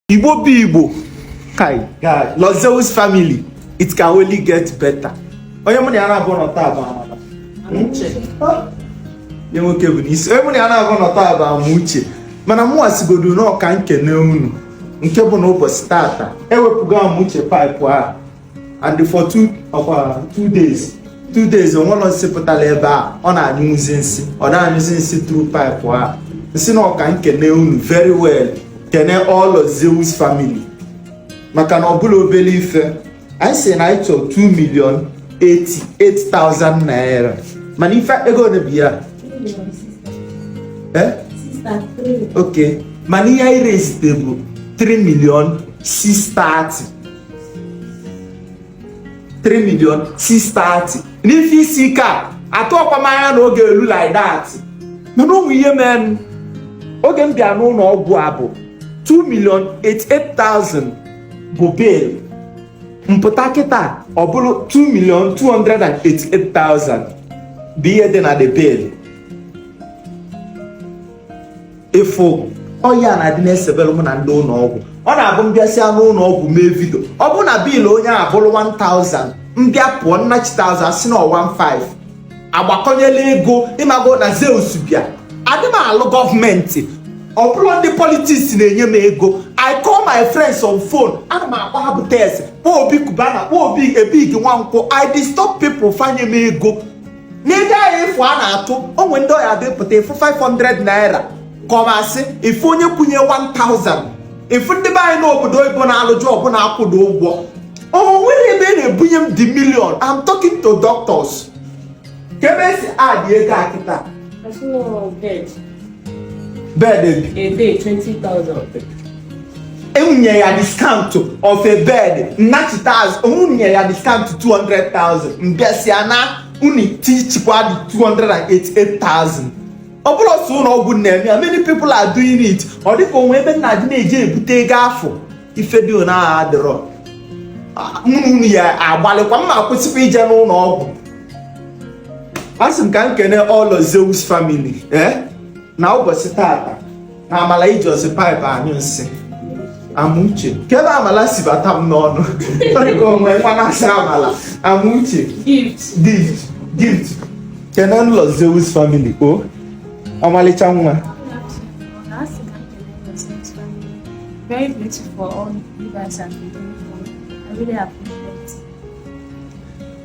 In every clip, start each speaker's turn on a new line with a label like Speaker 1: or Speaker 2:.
Speaker 1: Igbo bụ Igbo kai Lord Zeus family it can only get better onye mụ na ya naabọ nọ taa bụ Amala nye nwoke bụ n'isi onye mụ na ya naabọ nọ taa bụ Amuche mana mụ asịgodu na ọ ka m kene unu nke bụ na ụbọchị tata ewepụgo Amuche pipe a and for two ọkwa two days two days o nwerọ nsị pụtala ebe a ọ na-anyụzi nsị ọ na-anyụzi nsị through pipe a m sị na ọ ka m kene unu very well kene all Lord Zeus family maka na ọ bụrọ obele ife anyị sị na anyị chọrọ 2 million 88,000 naira mana ife ego ole bụ ya eh? ok mana ihe anyị raisete bụ 3 million 630 3 million 630 n'ife isi ike a atụrọkwa m anya na ọ ga-elu like that mana o nwe ihe meenụ oge m bịa n'ụnọ ọgwụ a bụ 2 million 88,000 bụ bill m pụta kịta ọ bụrụ 2 million 288,000 bụ ihe dị na the bill ị fụ ọ ya na-adị na-esebelụ mụ na ndị ụnọ ọgwụ ọ na-abụ m bịasịa n'ụnọ ọgwụ mee video ọ bụ na bill onye a bụrụ 1000 m bịa pụọ m nachite azụ a sị na ọ 15 agbakwụnyela ego ị mago na Zeus bịa adị m alụ government ọ bụrọ ndị politics na-enye m ego I call my friends on phone ana m akpọ Abutex kpọọ Obi Cubana kpọọ Obi Ebig Nwankwọ I disturb people fa enye m ego n'ego ahụ ị fụ a na-atụ o nwe ndị ọ ya depụta ị fụ 500 naira kọmasị ị fụ onye kwụnye 1000 ị fụ ndị be anyị n'obodo oyibo na-alụ job na-akwụdo ụgwọ o nwerọ ebe a na-ebunye m the million I'm talking to doctors kee ebe e si add ego a kịta bed enwunye ya discount of a bed m nachite azụ enwunye ya discount 200,000 m bịasịa na unu etichikwa dị 288,000 ọ bụrọ sọ ụnọ ọgwụ na-eme ya many people are doing it ọ dịka o nwe ebe m na-adị na-eje ebute ego afụ ife dị na agha adịrọ mma unu ya agbalịkwa m akwụsịkwa ije n'ụnọ ọgwụ asị m ka m kene all Lord Zeus family eh? na ụbọchị tata na Amala ejirọzi pipe anyụ nsị Amuche kee ebe Amala si bata m n'ọnụ dịka o nwe nwa a na-asị Amala Amuche Gift Gift kenenụ Lord Zeus family o oh, ọmalịcha nwa
Speaker 2: Very grateful for all you guys have been doing for me. I
Speaker 1: really appreciate it.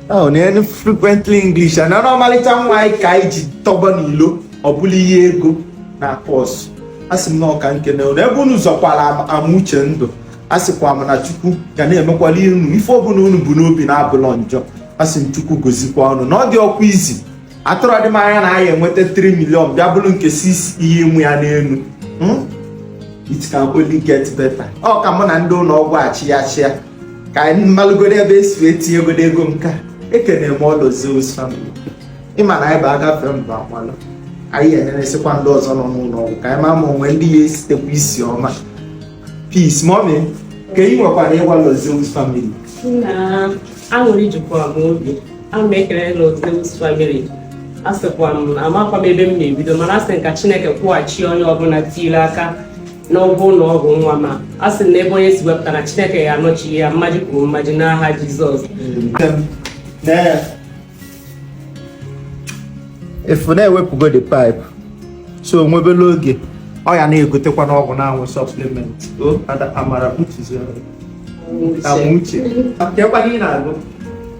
Speaker 1: Oh, na frequently English and ọmalịcha nwaanyị ka anyị ji tọba n'ilo ọ bụla ihe ego na-acause asị m na ọ ka m kene unu ebe unu zọkwara Amuche ndụ asịkwa m na chukwu ga na-emekwala unu ife ọbụla unu bu n'obi na-abụlọ njọ asị m chukwu gozikwa unu na ọ dịrọkwa easy atụrọdị m anya na anyị enweta 3 million bịa bụrụ nke 6 ihe ịmụ ya n'elu hmm? it can only get better ọ ka mụ na ndị ụlọ ọgwụ achị ya chịa ka anyị malụgodo ebe e si etinyegodo ego nka ekene m Lord Zeus family ịma na anyị bụ agafe mba akwalụ anyị enyeresịkwa ndị ọzọ nọ n'ụlọ ọgwụ ka anyị ma ma o nwee ndị ya-esitekwa isi ọma peace mommy ka ị nwekwara ịgwa Lord Zeus family aṅụrị
Speaker 3: jikwa m obi ana m ekele Lord Zeus family asịkwa m amakwa m ebe m na-ebido mana asị ka Chineke kwụghachi onye ọbụla tiile aka n'ụgwọ ụlọ ọgwụ nwa m a asị na ebe onye si wepụta na Chineke ya-anọchi ya mmaji kwuru mmaji n'aha Jizọs
Speaker 1: ị fụ na ewepụgo the pipe so o nwebela oge ọ ya na-egotekwa n'ọgwụ na-aṅụ supplement o ada amara uche Amuche kekwanụ ị na-agụ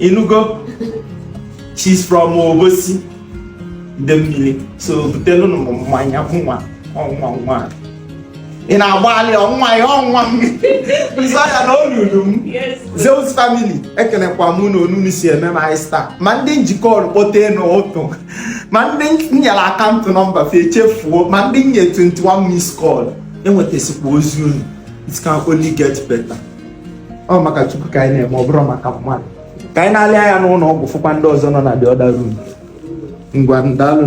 Speaker 1: ị nụgo she's from Obosi Idemili so butelu nụ m mmanya nwa ọnwa nwa ị na-agbalị ọnwa ya ọnwa m nza ya na olulu m Zeus family ekelekwa m n'otu unu si eme m anyị star ma ndị ji call kpọtee n'ụtụtụ ma ndị nyere account number fa echefuo ma ndị nye 21 miss call enwetasikwa ozi unu it can only get better ọ maka chukwu ka anyị na-eme ọ bụrọ maka mmadụ ka anyị na-alị anya n'ụlọ ọgwụ fụkwa ndị ọzọ nọ na the other room ngwa ndalụ